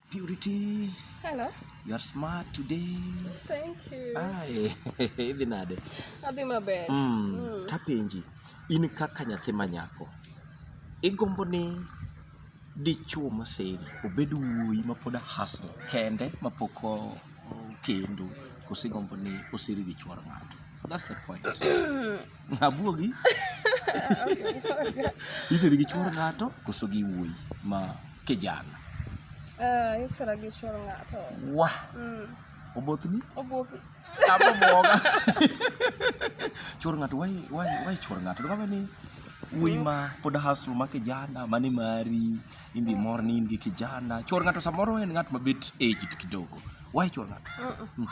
Purity. Hello. You are smart today. Thank you. Ai, idhi nade? Adhi maber. Mm. Mm. Tapenji, in kaka nyathi ma nyako, igombo ni dichuo maseri obed wuoyi ma pod hustle kende ma pok okendo koso igombo ni oseri gi chuor ng'ato? That's the point. Abuogi. Iseri gi chuor ng'ato koso gi wuoyi ma kijana? Eh, isera gi chuor ng'ato. Wah. Mm. Obothni? Obothni. Abo boga. Chuor ng'ato why why why chuor ng'ato? Ndio kama ni wuoyi ma pod hustle ma kijana mani mari in be mor ni in gi kijana chwor ng'ato samoro en ng'at mabet aged kidogo why chwor ng'ato Mm.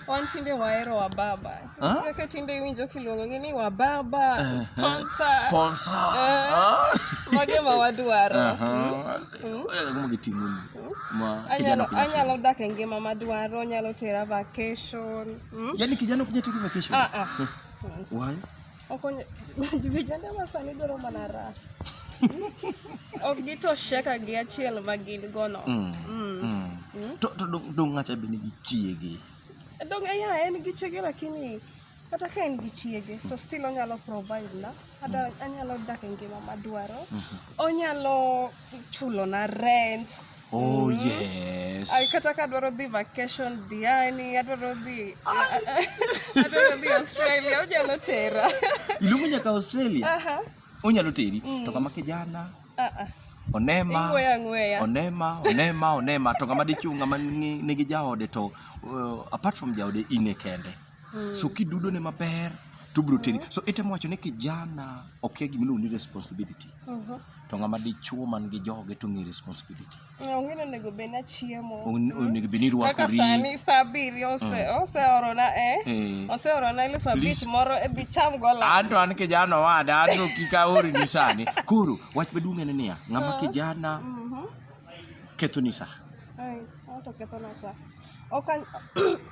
wan tinde wahero wababa Ah? kaka tinde iwinjo kiluongogi ni wababa Eh, sponsor sponsor Eh. Ah. mage ma wadwaro Aha. Eh, kama kiting'o ni. Ma kijana anyalo kunya- anyalo dak e ngima madwaro anyalo tera vacation mm? Yaani kijana kunya take vacation. Ah, ah. Why? Okonyo vijende ma sani dwaro mana raha. ok gitosheka gi achiel ma gin gono. Mm. Mm. Mm. Mm. To, to dong- dong' ng'acha be nigi chiege. Dong ya en gi chiege lakini kata ka en gi chiege to still onyalo provide na ada anyalo dak e ngima madwaro. Onyalo chulo na rent. Oh yes. Ay, kata ka adwaro dhi vacation Diani, adwaro dhi adwaro dhi Australia, onyalo tera. Iluongo nyaka Australia. Aha. Onyalo teri. To kama kijana. Ah ah. Onema. Ing'weya ng'weya. Onema, onema, onema. To kama dichung' kama nigi jaode to uh, apart from jaode in e kende. Hmm. So kidudo ne maber to bro teni. So itemo wacho ni kijana okia gima iluongo ni responsibility. Mhm. To ng'ama dichuo man gi joge to ng'e responsibility. Onge onego bed na chiemo. On- Onego bed ni Kaka irwakori. sani saa abiriyo ose- oseorona eh, Eh. oseorona elfu abich Please. moro e dhi cham go la. Anto an kijana owada, anto kik aori ni sani. Koro wach maduong' en niya, ng'ama kijana Mhm. kethoni sa. Ai, ato kethona saa. ok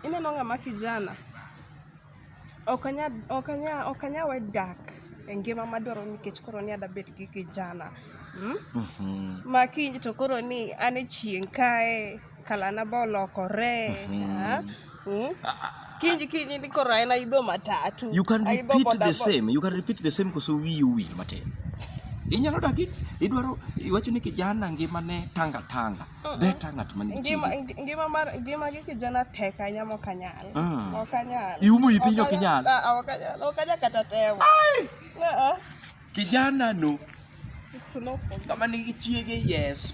ineno ng'ama kijana ok anya ok anya ok anya we dak e ngima madwaro nikech koro ni adwa bet gi kijana mm? mm -hmm. ma kiny to koro ni an e chieng' kae kalana ba olokore mm -hmm. mm? kinji kinji ni koro en aidho matatu you can repeat the same you can repeat the same koso wiyi owil matin inyalo dagi idwaro iwacho ni kijana ngimane tanga tanga Beta ng'at man gi ngima chiri. ngi- ngima mar ngima gi kijana tek ahinya mok anyal Mm. ok anyal Iumo ii piny ok inyal. Ah, ah, ok anyal ok anyal kata temo Ah, ah. Kijana no, It's no problem. kama nigi chiege yes.